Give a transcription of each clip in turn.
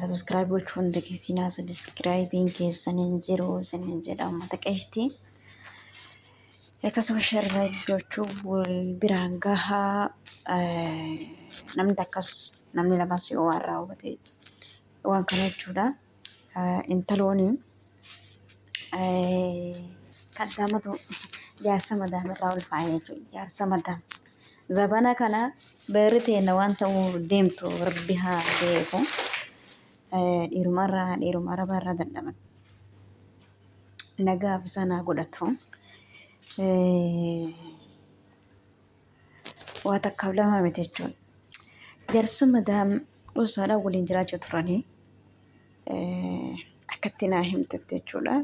Sabiskiraayib gochuu hin dagatinaa. Sabiskiraayibiin keessan hin jiru isin hin jedha uummata qeeshtii. Akkasuma sheer laayik gochuu wal biraan gahaa. Namni takkas namni lamas yoo waan raawwate waan kana jechuudha. Intalooni kan isaa matu jaarsa madaam irraa ulfaa'e jechuudha. Jaarsa madaam. Zabana kana beerri teenna waan ta'uu deemtu rabbi haa beeku. Dhiirumarraa dhiiruma arabaarraa dadhaban. Nagaaf isaan haa godhatu. waa takkaaf lama miti jechuudha. Jarsa madaam dhuusaadhaa waliin jiraachaa turanii akkatti naa himtetti jechuudha.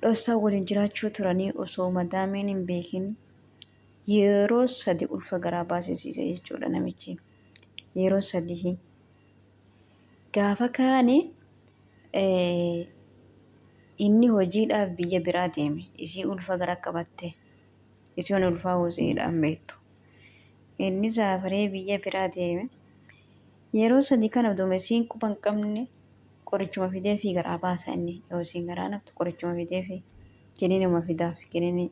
Dhoosaa waliin jiraachuu turanii osoo madaamiin hin beekin yeroo sadi ulfa garaa baasisiise jechuudha namichi. Yeroo sadii Gaafa kaane inni hojiidhaaf biyya biraa deeme. Isii ulfa gara qabatte. Isin ulfaa hojiidhaan beektu. Inni saafaree biyya biraa deeme. Yeroo sadii kana oduma isiin quba hin qabne qorichuma fidee fi garaa baasa inni. Yoo isiin garaa naftu qorichuma fidee fi kiniinuma fidaaf kiniinii.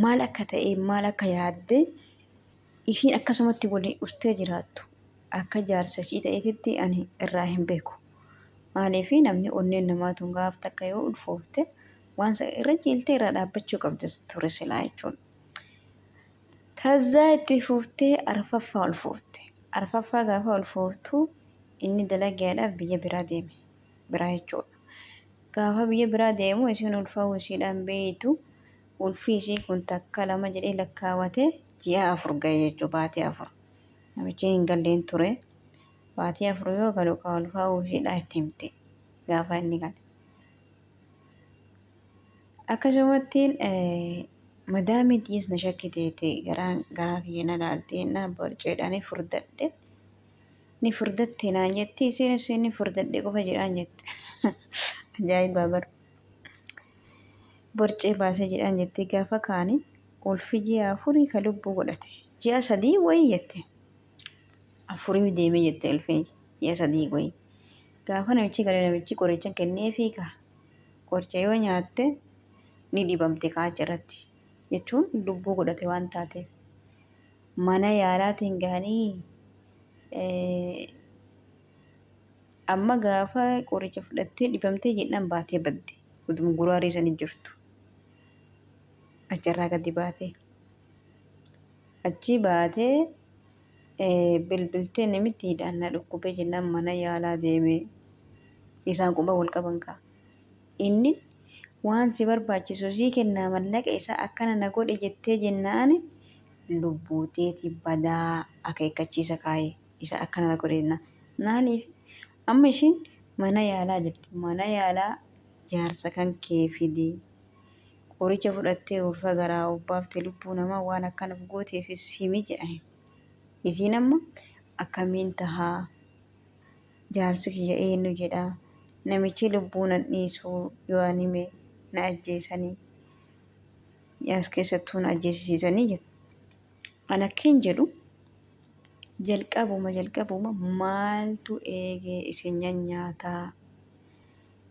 maal akka ta'e maal akka yaadde isiin akkasumatti waliin dhuftee jiraattu akka jaarsa ishii ta'eetitti ani irraa hin beeku. Maaliif namni onneen namaa tun gaaf takka yoo ulfoofte waan sa irra ciiltee irraa dhaabbachuu qabda ture silaa jechuudha. Kazzaa itti fuuftee arfaffaa ulfoofte. Arfaffaa gaafa ulfooftu inni dalagaadhaaf biyya biraa deeme. biraa jechuudha. Gaafa biyya biraa deemu isiin ulfa'uu isiidhaan beeytu ulfi isii kun takka lama jedhee lakkaawate ji'a afur ga'e jechuudha baatii afur. Namichi hin galleen ture. Baatii afur yoo galu kaa ulfaa'uu isiidhaa itti himte gaafa inni gale. Akkasumatti madaamii tiyis na shakkiteeti garaa kiyya na laaltee na borceedhaan furdadhe. ni furdatte naan jetti isiinis inni furdadhe qofa jedhaan jette ajaa'ibaa bar borcee baasee jedhaan jettee gaafa kaani ulfi ji'a afurii ka lubbuu godhate ji'a sadii wayii jette afurii deemee jette ulfi ji'a sadii wayii gaafa namichi galee namichi qoricha kennee fiiga qoricha yoo nyaatte ni dhibamte kaacha irratti jechuun lubbuu godhate waan taateef mana yaalaatiin gahanii amma gaafa qoricha fudhattee dhibamtee jennaan baatee badde utuma guraarii sanii jirtu achirraa gadi baatee achii baatee bilbiltee namitti hidhaan na dhukkubee jennaan mana yaalaa deemee isaan quba wal qaban kaa. Innin waan si barbaachisu sii kennaa mallaqa isaa akkana na godhe jettee jennaani lubbuu teeti badaa akeekkachiisa kaaye isa akkana na godhe jennaan maaliif amma ishiin mana yaalaa jirti mana yaalaa jaarsa kan kee fidi qoricha fudhattee ulfa garaa obbaafte lubbuu namaa waan akkanaf gooteefis himi jedhaniin isiin amma akkamiin tahaa Jaarsi kiyya eennu jedha? Namichi lubbuu nan dhiisu yoo an hime na ajjeesani. As keessattuu na ajjeesisiisanii jette. An akkiin jedhu jalqabuma jalqabuma maaltu eegee isin nyanyaataa?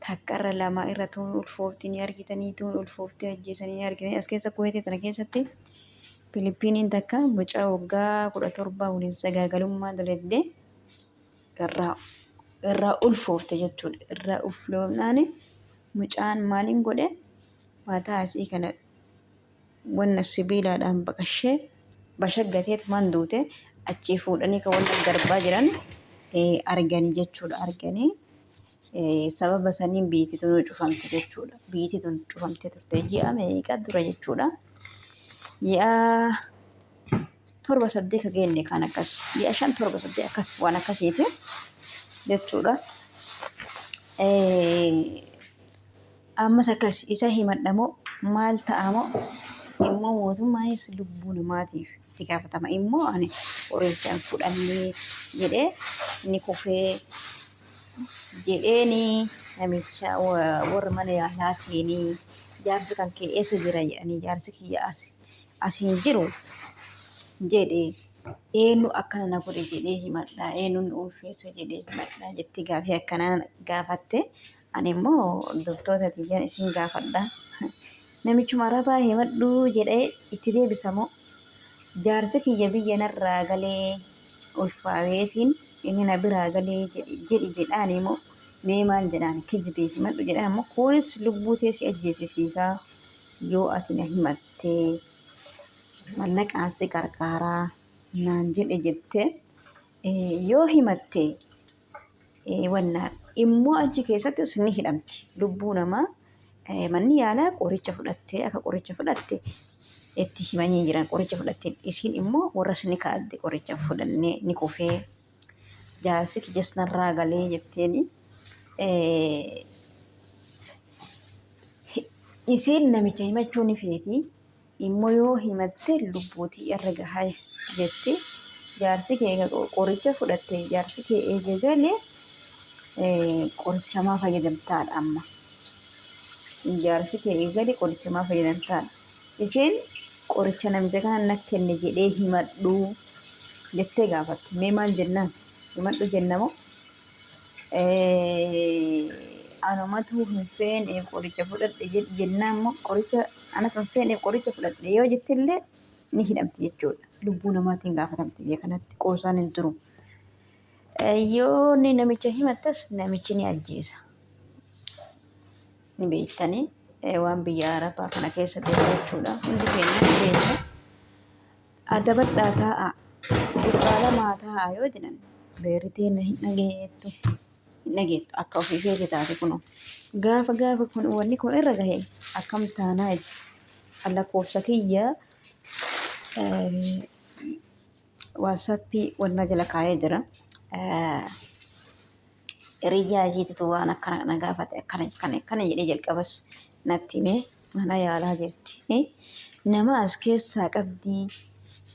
Takkarra lama irra tuun ulfoofti ni argitanii tuun ulfoofti ajjeesanii ni argitanii as keessa kuweetii tana keessatti Filiippiiniin takka mucaa waggaa kudha torbaa waliin sagaagalummaa dalagdee irraa irraa ulfoofte jechuudha. Irraa ulfoofnaan mucaan maaliin godhe mataa isii kana wanna sibiilaadhaan baqashee bashaggatee tumaan duute achii fuudhanii kan wanna garbaa jiran arganii jechuudha arganii sababa saniin biitii tun cufamte jechuudha. Biitii tun cufamtee turte ji'a meeqa dura jechuudha. Ji'a torba saddeet ka geenne kan akkas ji'a shan torba saddeet akkas waan akkasiiti jechuudha. Ammas akkas isa himadhamoo maal ta'amoo immoo mootummaanis lubbuu namaatiif itti gaafatama immoo ani qoricha hin fudhanne jedhee ni kufee jedheeni namicha wa- warra mana yaalaa seenee jaarsi kan kee eessa jira jedhanii jaarsi kiyya as as hin jiru jedhe eenyu akkana na godhe jedhee himadha eenyuun ulfeessa jedhee himadha jetti gaafii akkanaa gaafatte Ani immoo loltoota tiyyan isin gaafadha. Namichuma Arabaa himadhuu jedhee itti deebisa moo jaarsi kiyya biyya narraa galee ulfaaweetiin inni na biraa galee jedhi jedhi jedhaanii moo mee maal jedhaan kijibee himadhu jedhaan moo kunis lubbuu tee si ajjeesisiisaa yoo ati na himattee mallaqaan si qarqaaraa naan jedhe jette eh, yoo himatte wannaan immoo achi keessattis ni hidhamti. Lubbuu namaa manni yaalaa qoricha fudhattee akka qoricha fudhatte itti himanii jiran qoricha fudhattee isiin immoo warras ni kaa'atte qoricha fudhannee ni kufee jaarsi kiyas narraa galee jetteeni. Isiin namicha himachuu ni feeti. Immoo yoo himatte lubbuutii irra gaha jette jaarsi kee eega qoricha fudhatte jaarsi kee eega gale qorichamaa fayyadamtaadha amma. Jaarsi kee eega gale qorichamaa fayyadamtaadha. Isheen qoricha namicha kana na kenne jedhee himadhu jettee gaafatte. Mee maal jennaan? Himadhu jennamoo? Anumatu hin feeneef qoricha fudhadhe jedhi jennaan immoo qoricha anatu hin feeneef qoricha fudhadhe yoo jette illee ni hidhamti jechuudha. Lubbuu namaatiin gaafatamti biyya kanatti qoosaan hin jiru. Yoo inni namicha himattes namichi ni ajjeesa. Ni beektanii waan biyya Arabaa kana keessa deemu jechuudha. Hundi keenya ni beekna. Adabadhaa taa'aa, gurbaa lamaa taa'aa yoo jedhan beerri teenna hin dhageettu. Hin dhageettu akka ofii feete taate kunoo. Gaafa gaafa kun wanni kun irra gahe akkam taanaa itti. An lakkoofsa kiyya waatsaappii wanna jala kaa'ee jira. Hiriyyaa isiititu waan akkana na gaafate akkana akkana akkana jedhee jalqabas natti himee. Mana yaalaa jirti. Nama as keessaa qabdi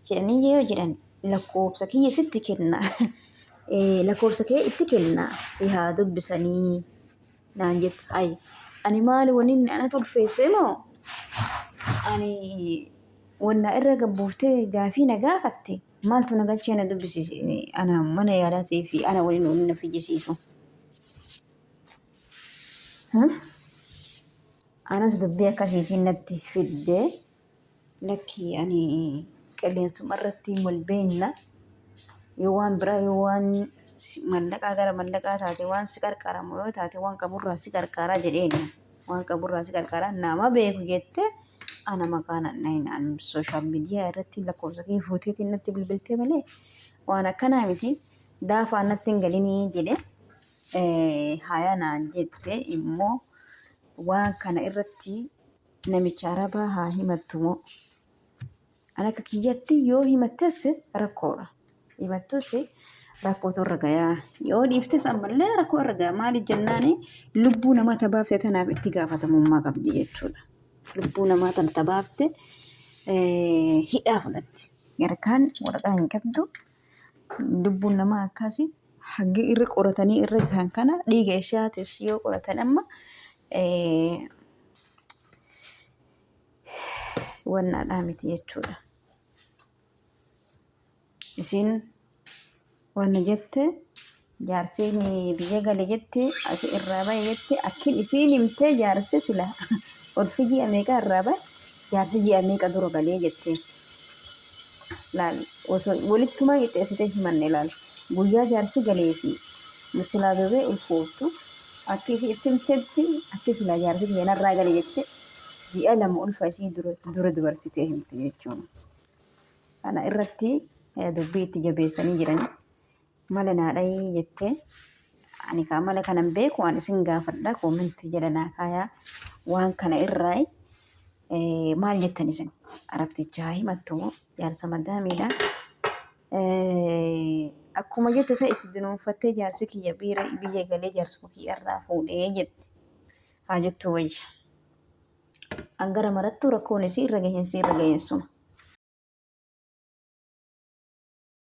jedhanii yoo jedhan lakkoofsa kiyya sitti kenna. Eh, Lakkoofsa kee itti kenna si haa dubbisanii naan jette. Ay, ani maali wani inni ana tulfeesse moo? Ani wanna irra gabbuuftee gaafii na gaafatte maaltu na galchee na dubbisiise ana mana yaalaatii fi ana waliin wani na fiyyisiisu. Hmm? Anas dubbii akkasiitiin natti fidde. Lakki ani qilleensuma irratti wal beekna. Yoo waan biraa yoo waan mallaqaa gara mallaqaa taate waan si qarqaramu yoo taate waan qaburraa si qarqaraa jedheeni. Waan qaburraa si qarqaraa nama beeku jette ana maqaa nanna'inaan sooshaal miidiyaa irratti lakkoofsa kee fuuteetiin natti bilbiltee malee waan akkanaa miti daafaa natti hin galinii jedhe haayaa naan jette immoo Waan kana irratti namicha arabaa haa himattu moo? An akka kiyyatti yoo himattes rakkoodha. Himattus rakkootu irra gayaa. Yoo dhiiftes ammallee rakkoo irra gayaa. Maaliif jennaan lubbuu namaa tabaafte tanaaf itti gaafatamummaa qabdi jechuudha. Lubbuu namaa tana tabaafte hidhaa fudhatti. Yarkaan waraqaa hin qabdu Lubbuun namaa akkaasi haggi irra qoratanii irra gahan kana dhiiga ishaatis yoo qoratan amma wannaadhaa miti jechuudha. Isiin wanna jette Jaarsiin biyya gale jette asi irraa bahe jette akkin isiin himtee jaarsi sila ulfi ji'a meeqa irraa bahe jaarsi ji'a meeqa dura galee jette laal osoo walittumaa qixxeessitee himanne laal guyyaa jaarsi galee fi silaa bebee ulfooftu akki isii itti himtetti akki silaa jaarsi kiyya narraa gale jette ji'a lama ulfa isii dura dura dubarsitee himte jechuun kana irratti eh, dubbii itti jabeessanii jiran Mala naa dhayii jette ani kaa mala kanan beeku an isin gaafadha koomentii jala naa kaayaa waan kana irraa eh, maal jettan isin arabticha haa himattu moo jaarsa madaamiidha Eh, akkuma jette isa itti dunuunfattee jaarsi kiyya biira biyya galee jaarsuma kiyya irraa fuudhee jette haa jettu wayya an gara marattuu rakkoon isii irra gahinsii irra gahinsuma